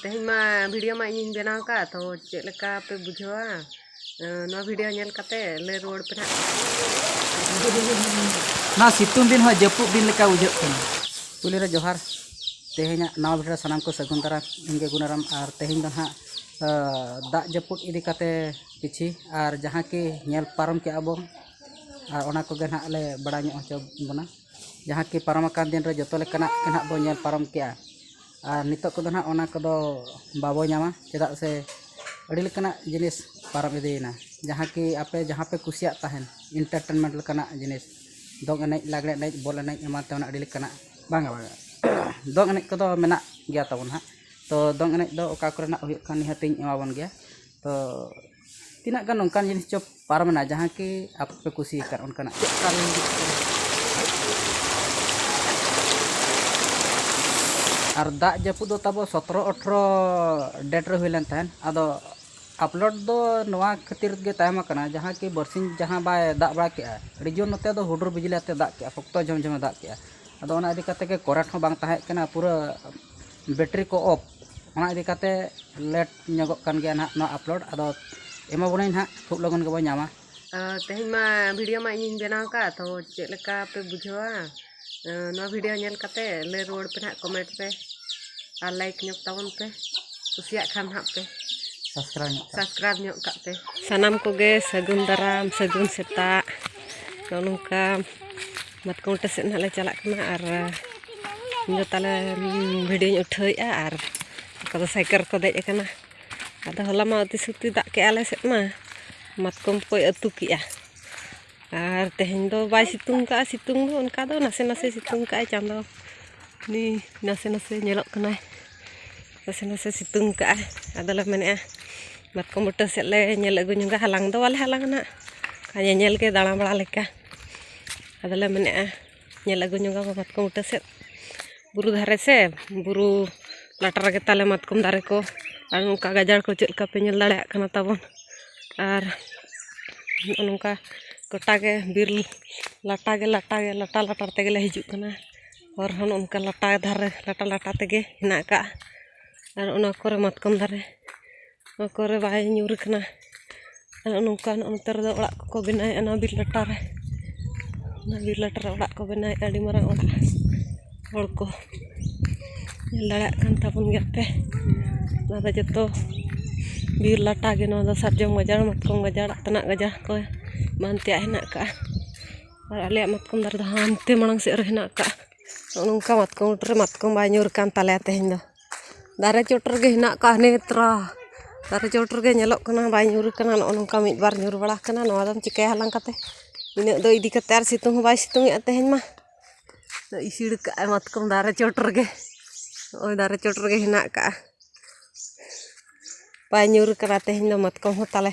ᱛᱮᱦᱮᱧ ᱢᱟ ᱵᱷᱤᱰᱤᱭᱳ ᱢᱟ ᱤᱧᱤᱧ ᱵᱮᱱᱟᱣ ᱟᱠᱟᱫ ᱛᱚ ᱪᱮᱫ ᱞᱮᱠᱟ ᱯᱮ ᱵᱩᱡᱷᱟᱹᱣᱟ ᱱᱚᱣᱟ ᱵᱷᱤᱰᱤᱭᱳ ᱧᱮᱞ ᱠᱟᱛᱮ ᱞᱟᱹᱭ ᱨᱩᱣᱟᱹᱲ ᱯᱮ ᱱᱟᱜ ᱱᱚᱣᱟ ᱥᱤᱛᱩᱝ ᱫᱤᱱ ᱦᱚᱸ ᱡᱟᱹᱯᱩᱫ ᱫᱤᱱ ᱞᱮᱠᱟ ᱵᱩᱡᱷᱟᱹᱜ ᱠᱟᱱᱟ ᱯᱩᱭᱞᱩ ᱨᱮ ᱡᱚᱦᱟᱨ ᱛᱮᱦᱮᱧᱟᱜ ᱱᱟᱣᱟ ᱵᱷᱤᱰᱤᱭᱳ ᱥᱟᱱᱟᱢ ᱠᱚ ᱥᱟᱹᱜᱩᱱ ᱫᱟᱨᱟᱢ ᱤᱧ ᱜᱮ ᱜᱩᱱᱟᱨᱟᱢ ᱟᱨ ᱛᱮᱦᱮᱧ ᱫᱚ ᱱᱟᱦᱟᱜ ᱫᱟᱜ ᱡᱟᱹᱯᱩᱫ ᱤᱫᱤ ᱠᱟᱛᱮ ᱠᱤᱪᱷᱤ ᱟᱨ ᱡᱟᱦᱟᱸ ᱠᱤ ᱧᱮᱞ ᱯᱟᱨᱚᱢ ᱠᱮᱜᱼᱟ ᱵᱚᱱ ᱟᱨ ᱚᱱᱟ ᱠᱚᱜᱮ ᱱᱟᱦᱟᱜ ᱞᱮ ᱵᱟᱲᱟᱭ ᱧᱚᱜ ᱦᱚᱪᱚ ᱵᱚᱱᱟ ᱡᱟᱦᱟᱸ ᱠᱤ ᱯᱟᱨᱚᱢ ᱟᱠᱟᱱ ᱫᱤᱱ ᱨᱮ ᱡᱚᱛᱚ ᱞᱮᱠᱟᱱᱟᱜ ᱜᱮ ᱱᱟᱦᱟᱜ ᱵᱚᱱ ᱧᱮᱞ ᱯᱟᱨᱚᱢ ᱠᱮᱜᱼᱟ ᱟᱨ ᱱᱤᱛᱚᱜ ᱠᱚᱫᱚ ᱱᱟᱦᱟᱜ ᱚᱱᱟ ᱠᱚᱫᱚ ᱵᱟᱵᱚ ᱧᱟᱢᱟ ᱪᱮᱫᱟᱜ ᱥᱮ ᱟᱹᱰᱤ ᱞᱮᱠᱟᱱᱟᱜ ᱡᱤᱱᱤᱥ ᱯᱟᱨᱚᱢ ᱤᱫᱤᱭᱮᱱᱟ ᱡᱟᱦᱟᱸ ᱠᱤ ᱟᱯᱮ ᱡᱟᱦᱟᱸ ᱯᱮ ᱠᱩᱥᱤᱭᱟᱜ ᱛᱟᱦᱮᱱ ᱤᱱᱴᱟᱨᱴᱮᱱᱢᱮᱱᱴ ᱞᱮᱠᱟᱱᱟᱜ ᱡᱤᱱᱤᱥ ᱫᱚᱝ ᱮᱱᱮᱡ ᱞᱟᱜᱽᱬᱮ ᱮᱱᱮᱡ ᱵᱚᱞ ᱮᱱᱮᱡ ᱮᱢᱟᱱ ᱛᱮᱢᱟᱱ ᱟᱹᱰᱤ ᱞᱮᱠᱟᱱᱟᱜ ᱵᱟᱝᱟ ᱵᱟᱝᱟ ᱫᱚᱝ ᱮᱱᱮᱡ ᱠᱚᱫᱚ ᱢᱮᱱᱟᱜ ᱜᱮᱭᱟ ᱛᱟᱵᱚᱱ ᱱᱟᱦᱟᱜ ᱛᱚ ᱫᱚᱝ ᱮᱱᱮᱡ ᱫᱚ ᱚᱠᱟ ᱠᱚᱨᱮᱱᱟᱜ ᱦᱩᱭᱩᱜ ᱠᱟᱱ ᱱᱤᱦᱟᱹᱛᱤᱧ ᱮᱢᱟᱵᱚᱱ ᱜᱮᱭᱟ ᱛᱚ ᱛᱤᱱᱟᱹᱜ ᱜᱟᱱ ᱚᱱᱠᱟᱱ ᱡᱤᱱᱤᱥ ᱪᱚ ᱯᱟᱨᱚᱢᱮᱱᱟ ᱡᱟᱦᱟᱸ ᱠᱤ ᱟᱯᱮ ᱯᱮ ᱠᱩᱥᱤ ᱟᱠᱟᱫ ᱚᱱᱠᱟᱱᱟᱜ ᱟᱨ ᱫᱟᱜ ᱡᱟᱹᱯᱩᱫ ᱫᱚ ᱛᱟᱵᱚ ᱥᱚᱛᱨᱚ ᱟᱴᱷᱨᱚ ᱰᱮᱴ ᱨᱮ ᱦᱩᱭ ᱞᱮᱱ ᱛᱟᱦᱮᱸᱫ ᱟᱫᱚ ᱟᱯᱞᱳᱰ ᱫᱚ ᱱᱚᱣᱟ ᱠᱷᱟᱹᱛᱤᱨ ᱜᱮ ᱛᱟᱭᱚᱢ ᱟᱠᱟᱱᱟ ᱡᱟᱦᱟᱸ ᱠᱤ ᱵᱟᱨᱥᱤᱧ ᱡᱟᱦᱟᱸ ᱵᱟᱭ ᱫᱟᱜ ᱵᱟᱲᱟ ᱠᱮᱫᱼᱟ ᱟᱹᱰᱤ ᱡᱳᱨ ᱱᱚᱛᱮ ᱫᱚ ᱦᱩᱰᱩᱨ ᱵᱤᱡᱽᱞᱤ ᱟᱛᱮᱫ ᱫᱟᱜ ᱠᱮᱫᱼᱟ ᱥᱚᱠᱛᱚ ᱡᱷᱚᱢ ᱡᱷᱚᱢᱮ ᱫᱟᱜ ᱠᱮᱫᱼᱟ ᱟᱫᱚ ᱚᱱᱟ ᱤᱫᱤ ᱠᱟᱛᱮᱫ ᱜᱮ ᱠᱚᱨᱮᱱᱴ ᱦᱚᱸ ᱵᱟᱝ ᱛᱟᱦᱮᱸ ᱠᱟᱱᱟ ᱯᱩᱨᱟᱹ ᱵᱮᱴᱨᱤ ᱠᱚ ᱚᱯᱷ ᱚᱱᱟ ᱤᱫᱤ ᱠᱟᱛᱮᱫ ᱞᱮᱴ ᱧᱚᱜᱚᱜ ᱠᱟᱱ ᱜᱮᱭᱟ ᱱᱟᱦᱟᱜ ᱱᱚᱣᱟ ᱟᱯᱞᱳᱰ ᱟᱫᱚ ᱮᱢᱟᱵᱚᱱᱟᱭ ᱱᱟᱦᱟᱜ ᱠᱷᱩᱵ ᱞᱚᱜᱚᱱ ᱜᱮᱵᱚᱱ ᱧᱟᱢᱟ ᱛᱮᱦᱮᱧ ᱢᱟ ᱵᱷᱤᱰᱤᱭᱳ ᱢᱟ ᱤᱧᱤᱧ ᱵᱮᱱᱟᱣ ᱟᱠᱟᱫ ᱛᱚ ᱪᱮᱫ ᱞᱮᱠᱟ ᱯᱮ ᱵᱩᱡᱷᱟᱹᱣᱟ ᱱᱚᱣᱟ ᱵᱷᱤᱰᱤᱭᱳ ᱧᱮᱞ ᱠᱟᱛᱮ ᱞᱟᱹᱭ ᱨᱩᱣᱟᱹᱲ ᱯᱮ ᱱᱟᱦᱟᱜ ᱠᱚᱢᱮᱱᱴ ᱯᱮ ᱟᱨ ᱞᱟᱭᱤᱠ ᱧᱚᱜ ᱛᱟᱵᱚᱱ ᱯᱮ ᱠᱩᱥᱤᱭᱟᱜ ᱠᱷᱟᱱ ᱱᱟᱦᱟᱜ ᱯᱮ ᱥᱟᱵᱥᱠᱨᱟᱭᱤᱵᱽ ᱧᱚᱜ ᱥᱟᱵᱥᱠᱨᱟᱭᱤᱵᱽ ᱧᱚᱜ ᱠᱟᱜ ᱯᱮ ᱥᱟᱱᱟᱢ ᱠᱚᱜᱮ ᱥᱟᱹᱜᱩᱱ ᱫᱟᱨᱟᱢ ᱥᱟᱹᱜᱩᱱ ᱥᱮᱛᱟᱜ ᱱᱚᱜᱼᱚ ᱱᱚᱝᱠᱟ ᱢᱟᱛᱠᱚᱢ ᱴᱮ ᱥᱮᱫ ᱱᱟᱦᱟᱜ ᱞᱮ ᱪᱟᱞᱟᱜ ᱠᱟᱱᱟ ᱟᱨ ᱤᱧᱫᱚ ᱛᱟᱦᱚᱞᱮ ᱵᱷᱤᱰᱤᱭᱳᱧ ᱩᱴᱷᱟᱹᱣᱮᱫᱼᱟ ᱟᱨ ᱚᱠᱟ ᱫᱚ ᱥᱟᱭᱠᱮᱞ ᱨᱮᱠᱚ ᱫᱮᱡ ᱟᱠᱟᱱᱟ ᱟᱫᱚ ᱦᱚᱞᱟ ᱢᱟ ᱚᱛᱤ ᱥᱚᱠᱛᱤ ᱫᱟᱜ ᱠᱮᱜᱼᱟ ᱟᱞᱮ ᱥᱮᱫ ᱢᱟ ᱢᱟᱛᱠᱚᱢ ᱠᱚᱭ ᱟᱹᱛᱩ ᱠᱮᱜᱼᱟ ᱟᱨ ᱛᱮᱦᱮᱧ ᱫᱚ ᱵᱟᱭ ᱥᱤᱛᱩᱝ ᱠᱟᱜᱼᱟ ᱥᱤᱛᱩᱝ ᱫᱚ ᱚᱱᱠᱟ ᱫᱚ ᱱᱟᱥᱮ ᱱᱟᱥᱮ ᱥᱤᱛᱩᱝ ᱠᱟᱜᱼᱟᱭ ᱪᱟᱸᱫᱚ ᱩᱱᱤ ᱱᱟᱥᱮ ᱱᱟᱥᱮ ᱧᱮᱞᱚᱜ ᱠᱟᱱᱟᱭ ᱱᱟᱥᱮ ᱱᱟᱥᱮ ᱥᱤᱛᱩᱝ ᱠᱟᱜᱼᱟᱭ ᱟᱫᱚᱞᱮ ᱢᱮᱱᱮᱜᱼᱟ ᱢᱟᱛᱠᱚᱢ ᱵᱩᱴᱟᱹ ᱥᱮᱫ ᱞᱮ ᱧᱮᱞ ᱟᱹᱜᱩ ᱧᱚᱜᱟ ᱦᱟᱞᱟᱝ ᱫᱚ ᱵᱟᱞᱮ ᱦᱟᱞᱟᱝᱟ ᱱᱟᱜ ᱧᱮᱧᱮᱞ ᱜᱮ ᱫᱟᱬᱟ ᱵᱟᱲᱟ ᱞᱮᱠᱟ ᱟᱫᱚᱞᱮ ᱢᱮᱱᱮᱜᱼᱟ ᱧᱮᱞ ᱟᱹᱜᱩ ᱧᱚᱜᱟ ᱵᱚᱱ ᱢᱟᱛᱠᱚᱢ ᱵᱩᱴᱟᱹ ᱥᱮᱫ ᱵᱩᱨᱩ ᱫᱷᱟᱨᱮ ᱥᱮ ᱵᱩᱨᱩ ᱞᱟᱛᱟᱨ ᱨᱮᱜᱮ ᱛᱟᱞᱮ ᱢᱟᱛᱠᱚᱢ ᱫᱟᱨᱮ ᱠᱚ ᱟᱨ ᱱᱚᱝᱠᱟ ᱜᱟᱡᱟᱲ ᱠᱚ ᱪᱮᱫ ᱞᱮᱠᱟ ᱯᱮ ᱧᱮᱞ ᱫᱟᱲᱮᱭᱟᱜ ᱠᱟᱱᱟ ᱛᱟᱵᱚᱱ ᱟᱨ ᱱᱚᱜᱼᱚ ᱱᱚᱝᱠᱟ ᱜᱳᱴᱟ ᱜᱮ ᱵᱤᱨ ᱞᱟᱴᱟ ᱜᱮ ᱞᱟᱴᱟ ᱜᱮ ᱞᱟᱴᱟ ᱞᱟᱴᱟ ᱛᱮᱜᱮ ᱞᱮ ᱦᱤᱡᱩᱜ ᱠᱟᱱᱟ ᱦᱚᱨ ᱦᱚᱸ ᱱᱚᱜᱼᱚ ᱱᱚᱝᱠᱟ ᱞᱟᱴᱟ ᱫᱷᱟᱨᱮ ᱞᱟᱴᱟ ᱞᱟᱴᱟ ᱛᱮᱜᱮ ᱦᱮᱱᱟᱜ ᱠᱟᱜᱼᱟ ᱟᱨ ᱚᱱᱟ ᱠᱚᱨᱮ ᱢᱟᱛᱠᱚᱢ ᱫᱟᱨᱮ ᱚᱠᱟ ᱠᱚᱨᱮ ᱵᱟᱭ ᱧᱩᱨ ᱠᱟᱱᱟ ᱟᱨ ᱱᱚᱝᱠᱟ ᱱᱚᱜᱼᱚ ᱱᱚᱛᱮ ᱨᱮᱫᱚ ᱚᱲᱟᱜ ᱠᱚᱠᱚ ᱵᱮᱱᱟᱣᱮᱫᱼᱟ ᱱᱚᱣᱟ ᱵᱤᱨ ᱞᱟᱴᱟ ᱨᱮ ᱚᱱᱟ ᱵᱤᱨ ᱞᱟᱴᱟ ᱨᱮ ᱚᱲᱟᱜ ᱠᱚ ᱵᱮᱱᱟᱣᱮᱫᱼᱟ ᱟᱹᱰᱤ ᱢᱟᱨᱟᱝ ᱚᱲᱟᱜ ᱦᱚᱲ ᱠᱚ ᱧᱮᱞ ᱫᱟᱲᱮᱭᱟᱜ ᱠᱟᱱ ᱛᱟᱵᱚᱱ ᱜᱮᱭᱟ ᱯᱮ ᱱᱚᱣᱟ ᱫᱚ ᱡᱚᱛᱚ ᱵᱤᱨ ᱞᱟᱴᱟ ᱜᱮ ᱱᱚᱣᱟ ᱫᱚ ᱥᱟᱨᱡᱚᱢ ᱜᱟᱡᱟᱲ ᱢᱟᱛᱠᱚᱢ ᱜᱟᱡᱟᱲ ᱟᱛᱱᱟᱜ ᱜᱟᱡᱟᱲ ᱠᱚ ᱮᱢᱟᱱ ᱛᱮᱭᱟᱜ ᱦᱮᱱᱟᱜ ᱠᱟᱜᱼᱟ ᱟᱨ ᱟᱞᱮᱭᱟᱜ ᱢᱟᱛᱠᱚᱢ ᱫᱟᱨᱮ ᱫᱚ ᱦᱟᱱᱛᱮ ᱢᱟᱲᱟᱝ ᱥᱮᱫ ᱨᱮ ᱦᱮᱱᱟᱜ ᱠᱟᱜᱼᱟ ᱱᱚᱜᱼᱚ ᱱᱚᱝᱠᱟ ᱢᱟᱛᱠᱚᱢ ᱵᱩᱴᱟᱹ ᱨᱮ ᱢᱟᱛᱠᱚᱢ ᱵᱟᱭ ᱧᱩᱨ ᱠᱟᱱ ᱛᱟᱞᱮᱭᱟ ᱛᱮᱦᱮᱧ ᱫᱚ ᱫᱟᱨᱮ ᱪᱚᱴ ᱨᱮᱜᱮ ᱦᱮᱱᱟᱜ ᱠᱚᱣᱟ ᱦᱟᱱᱮ ᱛᱚᱨᱟ ᱫᱟᱨᱮ ᱪᱚᱴ ᱨᱮᱜᱮ ᱧᱮᱞᱚᱜ ᱠᱟᱱᱟ ᱵᱟᱭ ᱧᱩᱨ ᱠᱟᱱᱟ ᱱᱚᱜᱼᱚ ᱱᱚᱝᱠᱟ ᱢᱤᱫ ᱵᱟᱨ ᱧᱩᱨ ᱵᱟᱲᱟ ᱠᱟᱱᱟ ᱱᱚᱣᱟ ᱫᱚᱢ ᱪᱤᱠᱟᱹᱭᱟ ᱦᱟᱞᱟᱝ ᱠᱟᱛᱮ ᱤᱱᱟᱹᱜ ᱫᱚ ᱤᱫᱤ ᱠᱟᱛᱮ ᱟᱨ ᱥᱤᱛᱩᱝ ᱦᱚᱸ ᱵᱟᱭ ᱥᱤᱛᱩᱝ ᱮᱜᱼᱟ ᱛᱮᱦᱮᱧ ᱢᱟ ᱤᱥᱤᱲ ᱠᱟᱜ ᱟᱭ ᱢᱟᱛᱠᱚᱢ ᱫᱟᱨᱮ ᱪᱚᱴ ᱨᱮᱜᱮ ᱱᱚᱜᱼᱚᱭ ᱫᱟᱨᱮ ᱪᱚᱴ ᱨᱮᱜᱮ ᱦᱮᱱᱟᱜ ᱠᱟᱜᱼᱟ ᱵᱟᱭ ᱧᱩᱨ ᱠᱟᱱᱟ ᱛᱮᱦᱮᱧ ᱫᱚ ᱢᱟᱛᱠᱚᱢ ᱦᱚᱸ ᱛᱟᱞᱮ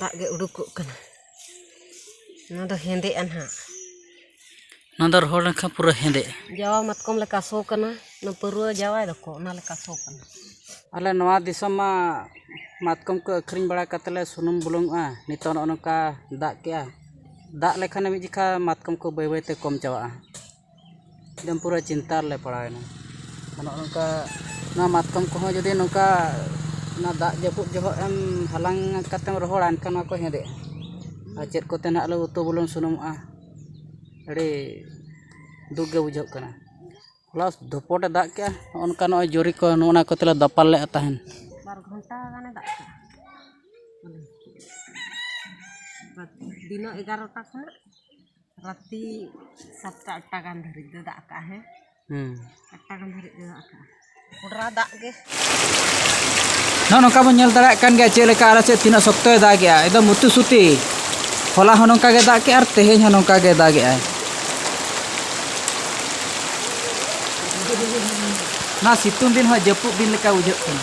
ᱫᱟᱜ ᱜᱮ ᱩᱰᱩᱠᱚᱜ ᱠᱟᱱᱟ ᱱᱚᱣᱟ ᱫᱚ ᱦᱮᱸᱫᱮᱜᱼᱟ ᱱᱟᱦᱟᱜ ᱱᱚᱣᱟ ᱫᱚ ᱨᱚᱦᱚᱲ ᱞᱮᱱᱠᱷᱟᱱ ᱯᱩᱨᱟᱹ ᱦᱮᱸᱫᱮᱜᱼᱟ ᱡᱟᱣᱟ ᱢᱟᱛᱠᱚᱢ ᱞᱮᱠᱟ ᱥᱚ ᱠᱟᱱᱟ ᱚᱱᱟ ᱯᱟᱹᱨᱣᱟᱹ ᱡᱟᱣᱟᱭ ᱫᱚᱠᱚ ᱚᱱᱟ ᱞᱮᱠᱟ ᱥᱚ ᱠᱟᱱᱟ ᱟᱞᱮ ᱱᱚᱣᱟ ᱫᱤᱥᱚᱢ ᱢᱟ ᱢᱟᱛᱠᱚᱢ ᱠᱚ ᱟᱹᱠᱷᱨᱤᱧ ᱵᱟᱲᱟ ᱠᱟᱛᱮᱫ ᱞᱮ ᱥᱩᱱᱩᱢ ᱵᱩᱞᱩᱝᱚᱜᱼᱟ ᱱᱤᱛᱚᱜ ᱱᱚᱜᱼᱚ ᱱᱚᱝᱠᱟ ᱫᱟᱜ ᱠᱮᱫᱼᱟᱭ ᱫᱟᱜ ᱞᱮᱠᱷᱟᱱᱮ ᱢᱤᱫ ᱡᱚᱠᱷᱟᱱ ᱢᱟᱛᱠᱚᱢ ᱠᱚ ᱵᱟᱹᱭ ᱵᱟᱹᱭᱛᱮ ᱠᱚᱢ ᱪᱟᱵᱟᱜᱼᱟ ᱮᱠᱫᱚᱢ ᱯᱩᱨᱟᱹ ᱪᱤᱱᱛᱟ ᱨᱮᱞᱮ ᱯᱟᱲᱟᱣᱮᱱᱟ ᱚᱱᱮ ᱚᱱᱠᱟ ᱱᱚᱣᱟ ᱢᱟᱛᱠᱚᱢ ᱠᱚᱦᱚᱸ ᱡᱩᱫᱤ ᱱᱚᱝᱠᱟ ᱚᱱᱟ ᱫᱟᱜ ᱡᱟᱹᱯᱩᱫ ᱡᱚᱠᱷᱚᱡ ᱮᱢ ᱦᱟᱞᱟᱝ ᱠᱟᱛᱮᱢ ᱨᱚᱦᱚᱲᱟ ᱮᱱᱠᱷᱟᱱ ᱱᱚᱣᱟ ᱠᱚ ᱦᱮᱸᱫᱮᱜᱼᱟ ᱟᱨ ᱪᱮᱫ ᱠᱚᱛᱮ ᱱᱟᱜ ᱞᱮ ᱩᱛᱩ ᱵᱩᱞᱩᱝ ᱥᱩᱱᱩᱢᱟᱜᱼᱟ ᱟᱹᱰᱤ ᱫᱩᱠ ᱜᱮ ᱵᱩᱡᱷᱟᱹᱜ ᱠᱟᱱᱟ ᱦᱚᱞᱟ ᱫᱷᱚᱯᱚᱴ ᱮ ᱫᱟᱜ ᱠᱮᱜᱼᱟ ᱚᱱᱠᱟ ᱱᱚᱜᱼᱚᱭ ᱡᱚᱨᱤ ᱠᱚ ᱱᱚᱜᱼᱚ ᱱᱟ ᱠᱚᱛᱮ ᱞᱮ ᱫᱟᱯᱟᱞ ᱞᱮᱜᱼᱟ ᱛᱟᱦᱮᱱ ᱵᱟᱨ ᱜᱷᱚᱱᱴᱟ ᱜᱟᱱᱮ ᱫᱟᱜ ᱠᱮᱜᱼᱟ ᱫᱤᱱᱟᱹᱢ ᱮᱜᱟᱨᱚᱴᱟ ᱠᱷᱚᱱᱟᱜ ᱨᱟᱛᱤ ᱥᱟᱛᱴᱟ ᱟᱴᱴᱟ ᱜᱟᱱ ᱫᱷᱟᱹᱨᱤᱡ ᱫᱚ ᱫᱟᱜ ᱠᱟᱜᱼᱟ ᱦᱮᱸ ᱦᱩᱸ ᱟᱴᱴᱟ ᱜᱟᱱ ᱫᱷᱟᱹᱨᱤᱡ ᱫᱚ ᱫᱟᱜ ᱠᱟᱜᱼᱟ ᱠᱚᱰᱨᱟ ᱫᱟᱜ ᱜᱮ ᱱᱚᱜᱼᱚ ᱱᱚᱝᱠᱟ ᱵᱚᱱ ᱧᱮᱞ ᱫᱟᱲᱮᱭᱟᱜ ᱠᱟᱱ ᱜᱮᱭᱟ ᱪᱮᱫ ᱞᱮᱠᱟ ᱟᱞᱮ ᱥᱮᱫ ᱛᱤᱱᱟᱹᱜ ᱥᱚᱠᱛᱚᱭ ᱫᱟᱜᱮᱜᱼᱟ ᱮᱠᱫᱚᱢ ᱢᱩᱛᱩ ᱥᱩᱛᱤ ᱦᱚᱞᱟ ᱦᱚᱸ ᱱᱚᱝᱠᱟ ᱜᱮ ᱫᱟᱜ ᱠᱮᱜᱼᱟ ᱟᱨ ᱛᱮᱦᱮᱧ ᱦᱚᱸ ᱱᱚᱝᱠᱟ ᱜᱮ ᱫᱟᱜᱮᱜᱼᱟ ᱱᱚᱣᱟ ᱥᱤᱛᱩᱝ ᱫᱤᱱ ᱦᱚᱸ ᱡᱟᱹᱯᱩᱫ ᱫᱤᱱ ᱞᱮᱠᱟ ᱵᱩᱡᱷᱟᱹᱜ ᱠᱟᱱᱟ